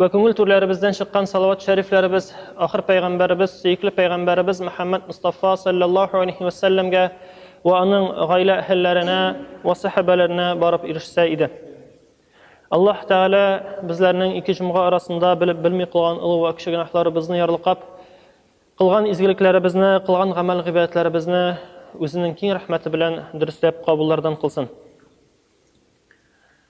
Вә күңел түрләребездән чыккан салават шәрифләребез ахыр пәйгамбәребез, сөекле пәйгамбәребез Мөхәммәд Мустафа саллаллаһу алейхи ва сәлләмгә ва аның гаилә әһелләренә ва сәхәбәләренә барып ирешсә иде. Аллаһ Тәгалә безләрнең ике җомга арасында белеп белми кылган олы ва кече гөнаһларыбызны ярлыкап, кылган изгелекләребезне, кылган гамәл гыйбадәтләребезне үзенең киң рәхмәте белән дөресләп кабуллардан кылсын.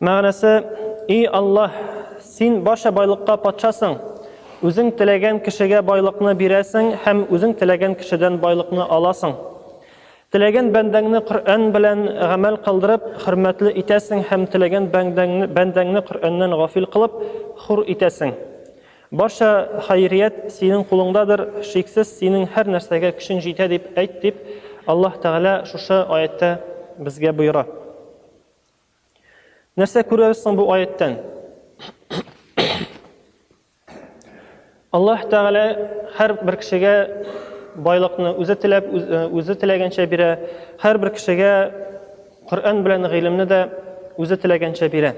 Мәгънәсе, И Аллаһ, Син барча байлыкка патшасың, Үзең теләгән кешегә байлыкны бирәсең һәм Үзең теләгән кешедән байлыкны аласың. Теләгән бәндәңне Коръән белән гамәл кылдырып, хөрмәтле итәсең һәм теләгән бәндәңне Коръәннән гафил кылып, хур итәсең. Барча хәйрият Синең кулыңдадыр, шиксез Синең һәр нәрсәгә көчең җитә дип әйт, дип Аллаһ Тәгалә шушы аятьтә безгә боера. Нәрсә күрәбез соң бу аяттан? Аллаһ Тәгалә һәр бер кешегә байлыкны үзе теләп, үзе теләгәнчә бирә. Һәр бер кешегә Коръән белән гыйлемне дә үзе теләгәнчә бирә.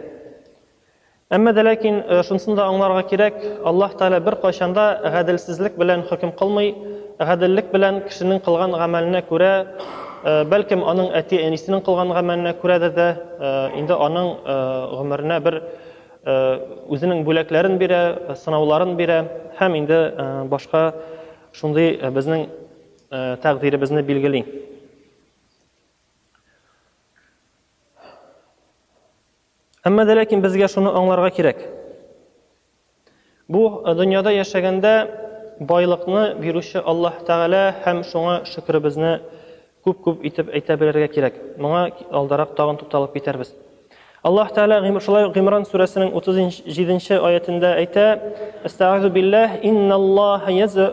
Әмма дә ләкин шунысын да аңларга кирәк, Аллаһ Тәгалә беркайчан да гаделсезлек белән хөкем кылмый, гаделлек белән кешенең кылган гамәленә күрә, бәлкем, аның әти-әнисенең кылган гамәленә күрәдер дә, инде аның гомеренә бер үзенең бүләкләрен бирә, сынауларын бирә һәм инде башка шундый безнең тәкъдиребезне билгели. Әмма дә ләкин безгә шуны аңларга кирәк. Бу дөньяда яшәгәндә байлыкны бирүче Аллаһ Тәгалә һәм шуңа шөкеребезне күп-күп итеп әйтә белергә кирәк. Моңа алдарак тагын тукталып китәрбез. Аллаһ Тәгалә шулай Гимран сүрәсенең 37 нче аятендә әйтә: "Истагъизу билләһ, инналлаһа язу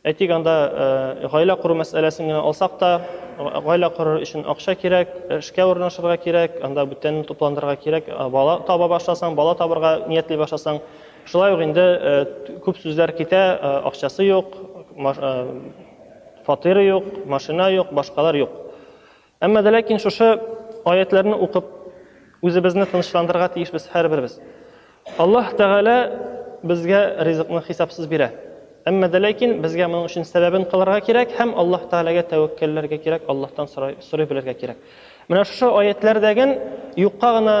Әйтик, анда гаилә кору мәсьәләсен генә алсак та, гаилә корыр өчен акча кирәк, эшкә урнашырга кирәк, анда бүтәнне тупландырырга кирәк, бала таба башласаң, бала табырга ниятли башласаң, шулай ук инде күп сүзләр китә, акчасы юк, фатиры юк, машина юк, башкалар юк. Әмма дә ләкин шушы аятьләрне укып, үзебезне тынычландырырга тиешбез һәрберебез. Аллаһ Тәгалә безгә ризыкны хисапсыз бирә. Әмма дә ләкин безгә моның өчен сәбәбен кылырга кирәк һәм Аллаһ Тәгаләгә тәвәккәлләргә кирәк, Аллаһтан сорай, сорый белергә кирәк. Менә шушы аятьләрдәген юкка гына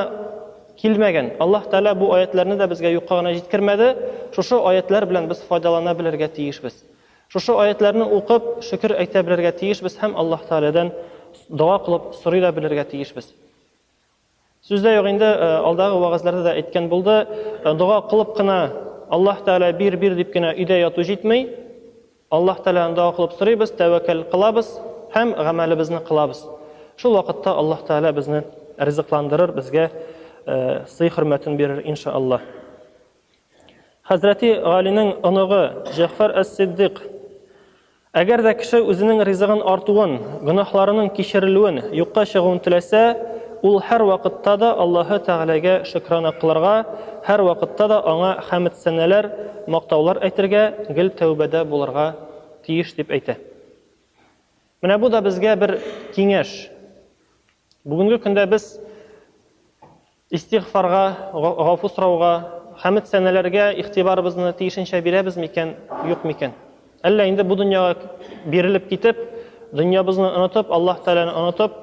килмәгән. Аллаһ Тәгалә бу аятьләрне дә безгә юкка гына җиткермәде. Шушы аятьләр белән без файдалана белергә тиешбез. Шушы аятьләрне укып, шөкер әйтә белергә тиешбез һәм Аллаһ Тәгаләдән дога кылып сорый да белергә тиешбез. Сүздә юк инде, э, алдагы вагазларда да әйткән булды, э, дога кылып кына Аллаһ Тәгалә бир, бир дип кенә өйдә яту җитми. Аллаһ Тәгаләдән дога кылып сорыйбыз, тәвәккәл кылабыз һәм гамәлебезне кылабыз. Шул вакытта Аллаһ Тәгалә безне ризыкландырыр, безгә э, сый-хөрмәтен бирер, иншааллаһ. Хәзрәти Галинең оныгы Җәгъфәр әс-Сиддыйк Әгәр дә кеше үзенең ризыгын артуын, гөнаһларының кичерелүен, юкка чыгуын теләсә, ул һәрвакытта да Аллаһы Тәгаләгә шөкрана кылырга, һәрвакытта да Аңа хәмед-сәнәләр, мактаулар әйтергә, гел тәүбәдә булырга тиеш, дип әйтә. Менә бу да безгә бер киңәш. Бүгенге көндә без Истигъфарга, гафу сорауга, хәмед сәнәләргә игътибарыбызны тиешенчә бирәбез микән, юк микән? Әллә инде бу дөньяга бирелеп китеп, дөньябызны онытып, Аллаһ Тәгаләне онытып,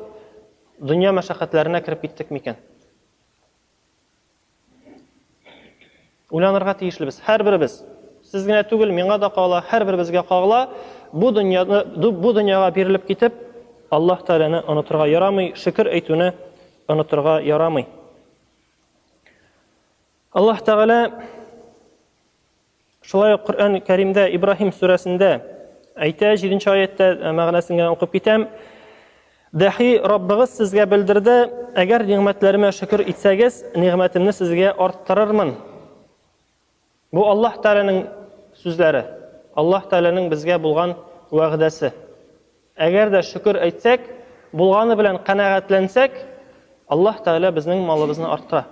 дөнья мәшәкатьләренә кереп киттек микән? Уйланырга тиешлебез, һәрберебез. Сез генә түгел, миңа да кагыла, һәрберебезгә кагыла. Бу дөньяны, бу дөньяга бирелеп китеп, Аллаһ Тәгаләне онытырга ярамый, шөкер әйтүне онытырга ярамый. Аллаһ Тәгалә шулай ук Коръән Кәримдә Ибраһим сүрәсендә әйтә, 7 нче аятта мәгънәсен генә укып китәм. Дәхи, Раббыгыз сезгә белдерде, Әгәр нигъмәтләремә шөкер итсәгез, нигъмәтемне сезгә арттырырмын. Бу Аллаһ Тәгаләнең сүзләре, Аллаһ Тәгаләнең безгә булган вәгъдәсе. Әгәр дә шөкер әйтсәк, булганы белән канәгатьләнсәк, Аллаһ Тәгалә безнең малыбызны арттыра.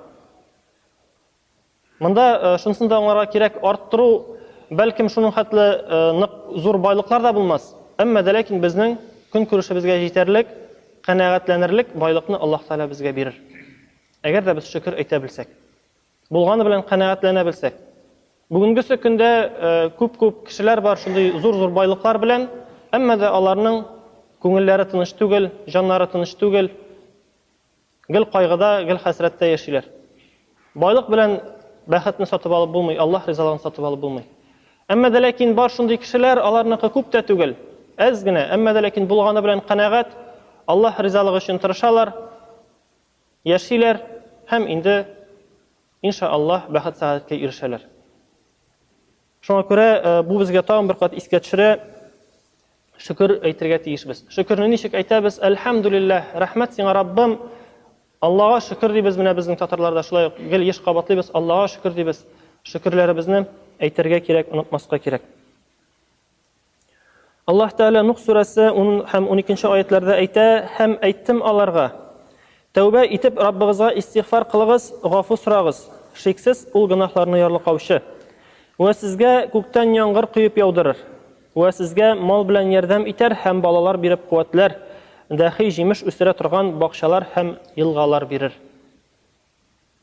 Монда шунысын да аңларга кирәк, арттыру, бәлкем, шуның хәтле нык зур байлыклар да булмас, әмма дә ләкин безнең көнкүрешебезгә җитәрлек, канәгатьләнерлек байлыкны Аллаһ Тәгалә безгә бирер. Әгәр дә без шөкер әйтә белсәк, булганы белән канәгатьләнә белсәк. Бүгенгесе көндә күп-күп кешеләр бар шундый зур-зур байлыклар белән, әмма дә аларның күңелләре тыныч түгел, җаннары тыныч түгел, Гел кайгыда, гел хәсрәттә яшиләр. Байлык белән бәхетне сатып алып булмый, Аллаһ ризалыгын сатып алып булмый. Әмма дә ләкин бар шундый кешеләр, аларныкы күп тә түгел, әз генә, әмма дә ләкин булганы белән канәгать, Аллаһ ризалыгы өчен тырышалар, яшиләр һәм инде, инша Аллаһ, бәхет-сәгадәткә ирешәләр. Шуңа күрә бу безгә тагын бер кат искә төшерә, шөкер әйтергә тиешбез. Шөкерне ничек әйтәбез? Әлхәмдүлилләһ, рәхмәт сиңа, Раббым. Аллага шөкер дибез, менә безнең татарларда шулай ук гел еш кабатлыйбыз, Аллага шөкер дибез. Шөкерләребезне әйтергә кирәк, онытмаска кирәк. Аллаһ Тәгалә Нух сүрәсе 10 һәм 12 аятларда әйтә, һәм әйттем аларга, Тәүбә итеп Раббыгызга истигъфар кылыгыз, гафу сорагыз, шиксез Ул гөнаһларны ярлыкаучы. Вә сезгә күктән яңгыр коеп яудырыр. Вә сезгә мал белән ярдәм итәр һәм балалар биреп куәтләр, дәхи җимеш үстерә торган бакчалар һәм елгалар бирер.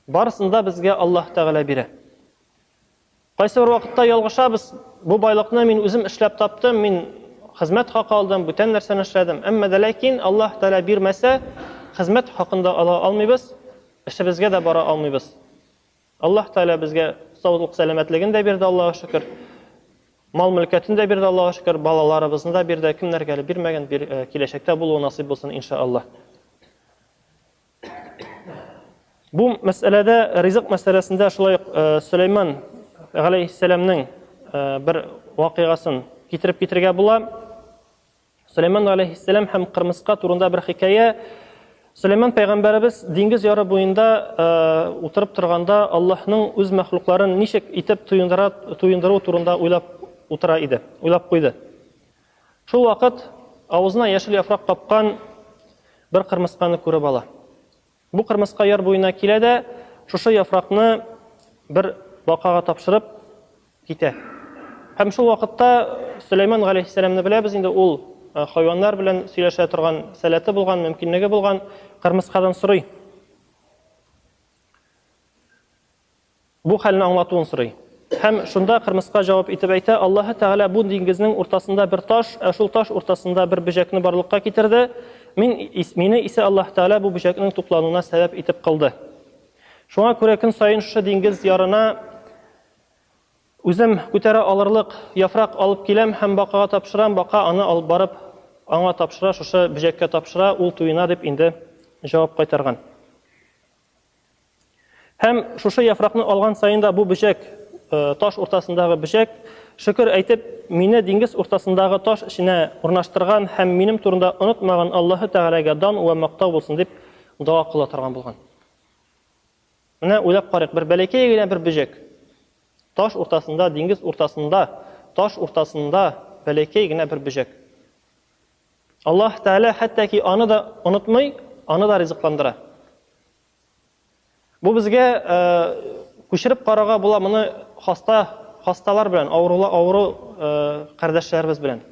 Барысын да безгә Аллаһ Тәгалә бирә. Кайсыбер вакытта ялгышабыз, бу байлыкны мин үзем эшләп таптым, мин хезмәт хакы алдым, бүтән нәрсәне эшләдем. Әмма дә ләкин Аллаһ Тәгалә бирмәсә, хезмәт хакын да ала алмыйбыз, эшебезгә дә бара алмыйбыз. Аллаһ Тәгалә безгә саулык-сәламәтлеген дә бирде, Аллага шөкер. Мал-мөлкәтен дә бирде, Аллага шөкер. Балаларыбызны да бирде. Кемнәргә әле бирмәгән, бир, э, киләчәктә булуы насыйп булсын, иншааллаһ. Бу мәсьәләдә ризык мәсьәләсендә шулай ук э, Сөләйман галәйһиссәламнең э, бер вакыйгасын китереп китергә була. Сөләйман галәйһиссәлам һәм кырмыска турында бер хикәя. Сөләйман пәйгамбәребез диңгез яры буенда э, утырып торганда Аллаһның үз мәхлукларын ничек итеп туендыра туендыру турында уйлап утыра иде, уйлап куйды. Шул вакыт авызына яшел яфрак капкан бер кырмысканы күреп ала. Бу кырмыска яр буена килә дә, шушы яфракны бер бакага тапшырып китә. Һәм шул вакытта Сөләйман галәйһиссәламне беләбез инде, ул хайваннар белән сөйләшә торган сәләте булган, мөмкинлеге булган, кырмыскадан сорый. Бу хәлне аңлатуын сорый. Һәм шунда кырмыска җавап итеп әйтә, Аллаһы Тәгалә бу диңгезнең уртасында бер таш, ә шул таш уртасында бер бөҗәкне барлыкка китерде, мин, мине исә Аллаһы Тәгалә бу бөҗәкнең туклануына сәбәп итеп кылды. Шуңа күрә көн саен шушы диңгез ярына үзем күтәрә алырлык яфрак алып киләм һәм бакага тапшырам, бака аны алып барып аңа тапшыра, шушы бөҗәккә тапшыра, ул туена, дип инде җавап кайтарган. Һәм шушы яфракны алган саен да бу бөҗәк, таш уртасындагы бөҗәк, шөкер әйтеп, мине диңгез уртасындагы таш эченә урнаштырган һәм минем турында онытмаган Аллаһы Тәгаләгә дан вә мактау булсын дип дога кыла торган булган. Менә уйлап карыйк, бер бәләкәй генә бер бөҗәк, таш уртасында, диңгез уртасында, таш уртасында бәләкәй генә бер бөҗәк. Аллаһ Тәгалә хәтта ки аны да онытмый, аны да ризыкландыра. Бу безгә күчереп карарга була моны хаста хасталар белән, авырулы авыру кардәшләребез белән.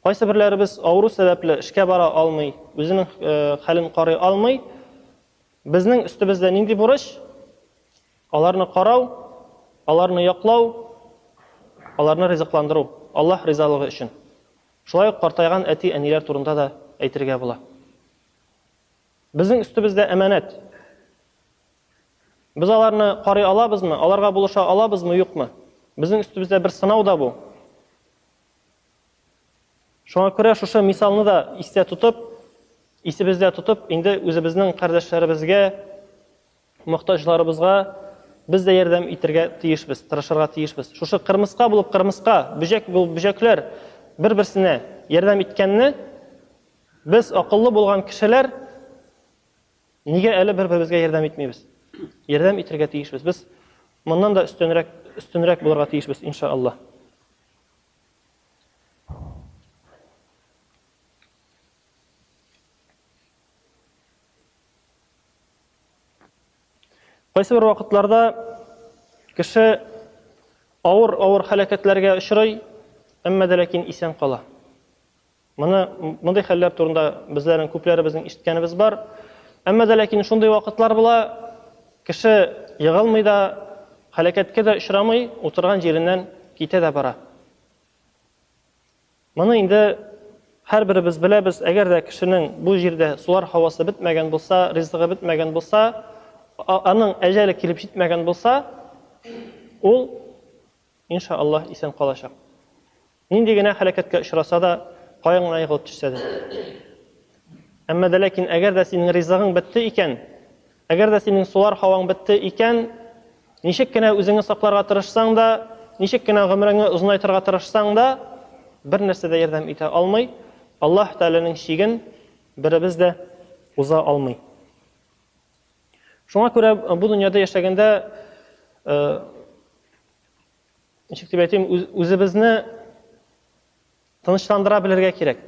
Кайсы берләребез авыру сәбәпле эшкә бара алмый, үзенең хәлен карый алмый. Безнең өстебездә нинди бурыч? Аларны карау, аларны яклау, аларны ризыкландыру, Аллаһ ризалыгы өчен. Шулай ук картайган әти-әниләр турында да әйтергә була. Безнең өстебездә әманәт. Без аларны карый алабызмы, аларга булыша алабызмы, юкмы? Безнең өстебездә бер сынау да бу. Шуңа күрә шушы мисалны да истә тотып, исебездә тотып, инде үзебезнең кардәшләребезгә, Мохтаҗларыбызга без дә ярдәм итергә тиешбез, тырышырга тиешбез. Шушы кырмыска булып кырмыска, бөҗәк булып бөҗәкләр бер-берсенә ярдәм иткәнне без, акыллы булган кешеләр, нигә әле бер-беребезгә ярдәм итмибез? Ярдәм итергә тиешбез. Без моннан да өстенрәк, өстенрәк булырга тиешбез, иншааллаһ. Кайсы бер вакытларда кеше авыр-авыр хәләкәтләргә очрый, әмма дә ләкин исән кала. Моны мондый хәлләр турында безләрнең күпләребезнең ишеткәнебез бар. Әмма дә ләкин шундый вакытлар була, кеше егылмый да, хәләкәткә дә очрамый, утырган җиреннән китә дә бара. Моны инде һәрберебез беләбез, әгәр дә кешенең бу җирдә сулар һавасы бетмәгән булса, ризыгы бетмәгән булса, аның әҗәле килеп җитмәгән булса, ул, инша Аллаһ, исән калачак. Нинди генә һәлакәткә очраса да, каян гына егылып төшсә дә. Әмма дә ләкин әгәр дә синең ризыгың бетте икән, Әгәр дә синең сулар һаваң бетте икән, ничек кенә үзеңне сакларга тырышсаң да, ничек кенә гомереңне озынайтырга тырышсаң да, бернәрсә дә ярдәм итә алмый, Аллаһ Тәгаләнең чиген беребез дә уза алмый. Шуңа күрә бу дөньяда яшәгәндә, ничек дип әйтим, үзебезне Тынычландыра белергә кирәк.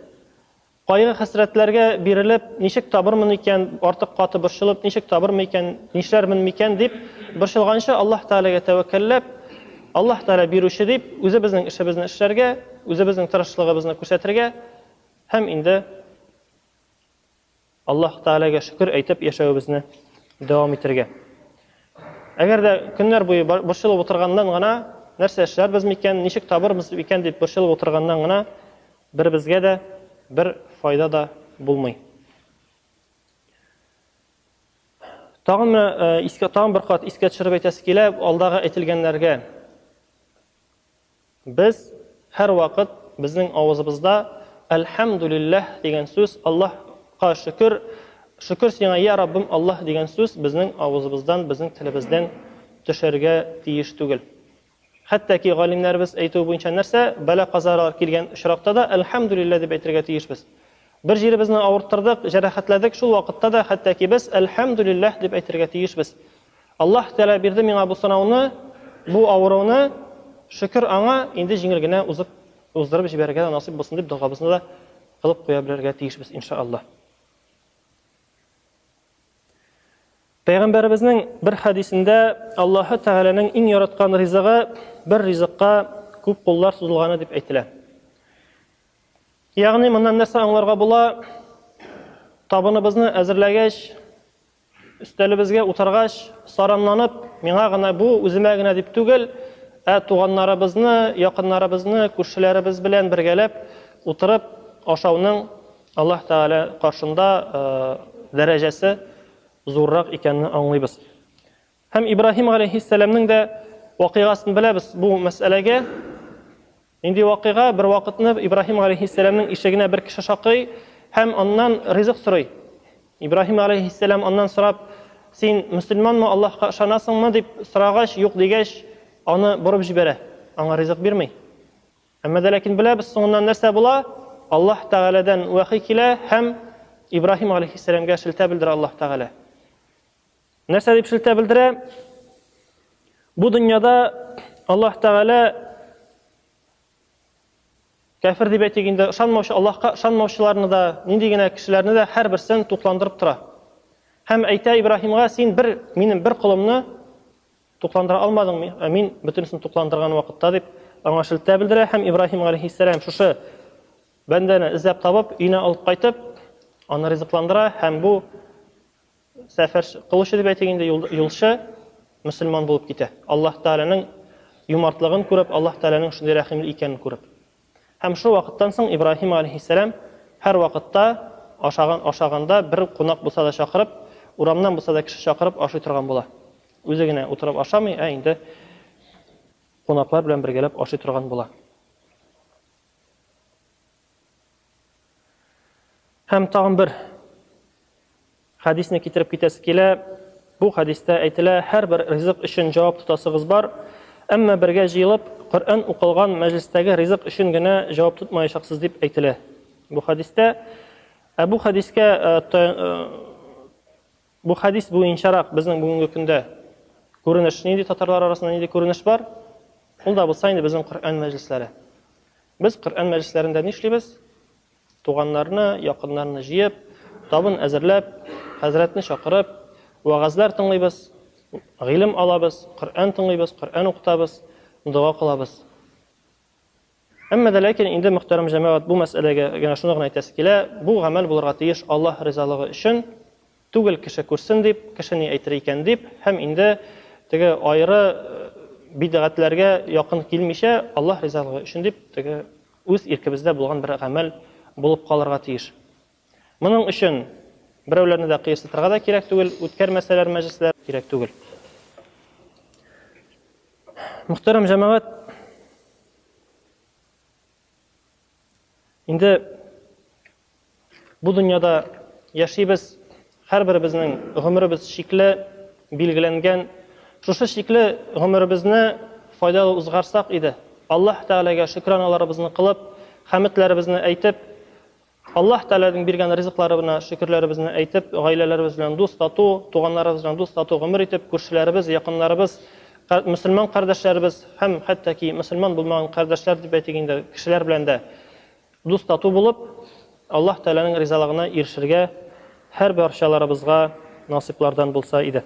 Кайгы-хәсрәтләргә бирелеп, ничек табырмын икән, артык каты борчылып, ничек табырмын икән, нишләрмен микән дип борчылганчы, Аллаһ Тәгаләгә тәвәккәлләп, Аллаһ Тәгалә бирүче дип, үзебезнең эшебезне эшләргә, үзебезнең тырышлыгыбызны күрсәтергә һәм инде Аллаһ Тәгаләгә шөкер әйтеп яшәвебезне дәвам итәргә. Әгәр дә көннәр буе борчылып утырганнан гына, нәрсә эшләрбез микән, ничек табырбыз икән дип борчылып утырганнан гына, беребезгә дә бер файда да булмый. Тагын менә искә, тагын бер кат искә төшереп әйтәсе килә, алдагы әйтелгәннәргә Без һәрвакыт безнең авызыбызда Әлхәмдүлилләһ дигән сүз, Аллаһ ка шөкер, шөкер сиңа, йә Раббым Аллаһ дигән сүз безнең авызыбыздан, безнең телебездән төшәргә тиеш түгел. Хәтта ки галимнәребез әйтүе буенча нәрсә, бәла-казалар килгән очракта да Әлхәмдүлилләһ дип әйтергә тиешбез. Бер җиребезне авырттырдык, җәрәхәтләдек, шул вакытта да хәтта ки без Әлхәмдүлилләһ дип әйтергә тиешбез. Аллаһ Тәгалә бирде миңа бу сынауны, бу авыруны, шөкер Аңа, инде җиңел генә узып, уздырып җибәрергә дә насыйп булсын дип догабызны да кылып куя белергә тиешбез, инша Аллаһ. Пәйгамбәребезнең бер хәдисендә Аллаһы Тәгаләнең иң яраткан ризыгы бер ризыкка күп куллар сузылганы дип әйтелә. Ягъни моннан нәрсә аңларга була? Табыныбызны әзерләгәч, Өстәлебезгә утыргач, саранланып, миңа гына бу, үземә генә дип түгел, ә туганнарыбызны, якыннарыбызны, күршеләребез белән бергәләп утырып ашауның Аллаһ Тәгалә каршында дәрәҗәсе зуррак икәнне аңлыйбыз. Һәм Ибраһим галәйһиссәламнең дә вакыйгасын беләбез бу мәсьәләгә. Нинди вакыйга? Бер вакытны Ибраһим галәйһиссәламнең ишегенә бер кеше шакый һәм аннан ризык сорый. Ибраһим галәйһиссәлам аннан сорап, син мөселманмы, Аллаһка ышанасыңмы дип сорагач, юк дигәч, аны борып җибәрә, аңа ризык бирми. Әмма дә ләкин беләбез, соңыннан нәрсә була? Аллаһ Тәгаләдән вәхи килә һәм Ибраһим галәйһиссәламгә шелтә белдерә Аллаһ Тәгалә. Нәрсә дип шелтә белдерә? Бу дөньяда Аллаһ Тәгалә кәфир дип әйтик инде, ышанмаучы Аллаһка ышанмаучыларны да, нинди генә кешеләрне дә һәрберсен тукландырып тора. Һәм әйтә Ибраһимга, син бер минем бер колымны тукландыра алмадыңмы? Ә мин бөтенесен тукландырган вакытта дип аңа шелтә белдерә һәм Ибраһим алейхиссалам шушы бәндәне эзләп табып, өенә алып кайтып, аны ризыкландыра һәм бу Сәфәр кылучы дип әйтик инде, юлчы мөселман булып китә. Аллаһ Тәгаләнең юмартлыгын күреп, Аллаһ Тәгаләнең шундый рәхимле икәнен күреп. Һәм шул вакыттан соң Ибраһим алейһиссәлам һәр вакытта ашаган ашаганда бер кунак булса да чакырып, урамнан булса да кеше чакырып ашый торган була. Үзе генә утырып ашамый, ә инде кунаклар белән бергәләп ашый торган була. Һәм тагын бер хәдисне китереп китәсе килә. Бу хәдистә әйтелә, һәрбер ризык өчен җавап тотасыгыз бар. Әмма бергә җыелып, Коръән укылган мәҗлестәге ризык өчен генә җавап тотмаячаксыз дип әйтелә. Бу хәдистә ә бу хәдискә э, э, бу хәдис буенчарак безнең бүгенге көндә күренеш нинди татарлар арасында нинди күренеш бар? Ул да булса инде безнең Коръән мәҗлесләре. Без Коръән мәҗлесләрендә нишлибез? Туганнарны, якыннарны җыеп, табын әзерләп, хәзрәтне чакырып, вәгазьләр тыңлыйбыз, гыйлем алабыз, Коръән тыңлыйбыз, Коръән укытабыз, дога кылабыз. Әмма дә ләкин инде мөхтәрәм җәмәгать бу мәсьәләгә генә шуны гына әйтәсе килә, бу гамәл булырга тиеш Аллаһ ризалыгы өчен, Түгел, кеше күрсен дип, кеше ни әйтер икән дип, һәм инде теге аеры бидгатьләргә якын килмичә, Аллаһ ризалыгы өчен дип, теге үз иркебездә булган бер гамәл булып калырга тиеш. Моның өчен берәүләрне дә кыерсытырга да кирәк түгел, үткәрмәсәләр мәҗлесләр, кирәк түгел. Мөхтәрәм җәмәгать, Инде бу дөньяда яшибез, һәрберебезнең гомеребез чикле, билгеләнгән. Шушы чикле гомеребезне файдалы узгарсак иде. Аллаһ Тәгаләгә шөкраналарыбызны кылып, хәметләребезне әйтеп, Аллаһ Тәгаләнең биргән ризыкларыбына шөкерләребезне әйтеп, гаиләләребез белән дус-тату, туганнарыбыз белән дус-тату гомер итеп, күршеләребез, якыннарыбыз, кар мөселман кардәшләребез һәм хәтта ки мөселман булмаган кардәшләр дип әйтик инде, кешеләр белән дә дус-тату булып, Аллаһ Тәгаләнең ризалыгына ирешергә һәрбарчаларыбызга насыйплардан булса иде.